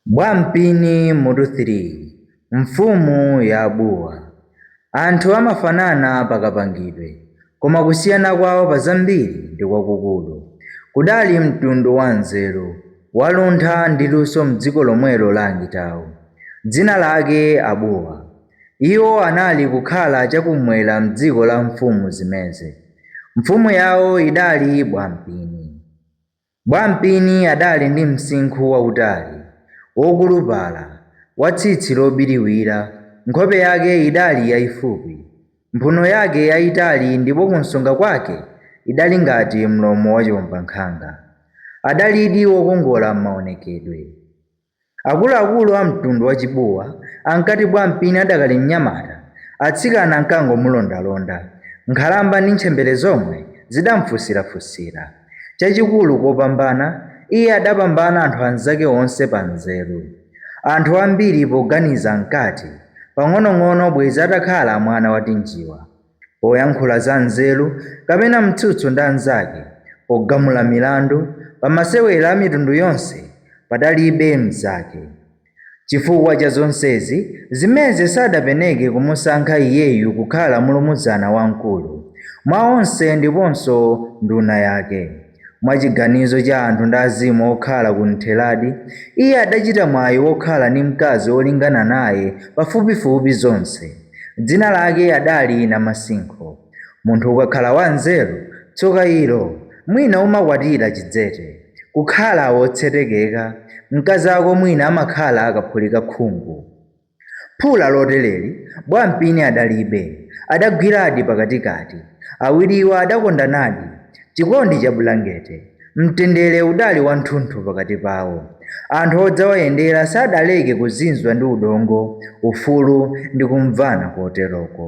Bwampini Mutu 3, Mfumu ya Abuwa Anthu amafanana pa kapangidwe, koma kusiyana kwawo pa zambiri ndi kwakukulu. Kudali mtundu wa anzeru, waluntha ndi luso m'dziko lomwelo la Angitau, dzina lake Abuwa. Iwo anali kukhala chakumwera m'dziko la mfumu Zimeze. Mfumu yawo idali Bwampini. Bwampini adali ndi msinkhu wautali, wokulupala, wa tsitsi lobiriwira, nkhope yake idali yayifupi, mphuno yake yayitali ndipo kunsonga kwake idali ngati mlomo wa chiwombankhanga. Adalidi wokongola m'maonekedwe. Akuluakulu a mtundu wa Chibuwa ankati Bwampini adakali mnyamata, atsikana ankangomulondalonda. Nkhalamba ndi ntchembere zomwe zidamfunsirafunsira. Chachikulu kopambana, iye adapambana anthu anzake onse pa nzeru. Anthu ambiri poganiza ankati pang'onong'ono bwezi atakhala mwana wa Tinjiwa. poyankhula za nzeru kapena mtsutso ndi anzake pogamula milandu, pa masewera a mitundu yonse padalibe mnzake. Chifukwa cha zonsezi, Zimeze sadapeneke kumusankha iyeyu kukhala Mulumuzana wamkulu mwa onse ndiponso nduna yake. mwa chiganizo cha anthu ndi azimu okhala ku mtheradi, iye adachita mwayi wokhala ndi mkazi wolingana naye pafupifupi zonse. Dzina lake adali Namasinkho. Munthu ukakhala wanzeru, tsoka ilo, mwina umakwatira chidzete, kukhala wotsetekeka, mkazako mwina amakhala kaphuli ka khungu. Phula lotereli Bwampini adalibe. Adagwiradi pakatikati. Awiriwa adakondanadi, chikondi cha bulangete. Mtendere udali wanthunthu pakati pawo. Anthu odzawayendera sadaleke kuzizwa ndi udongo, ufulu ndi kumvana koteroko.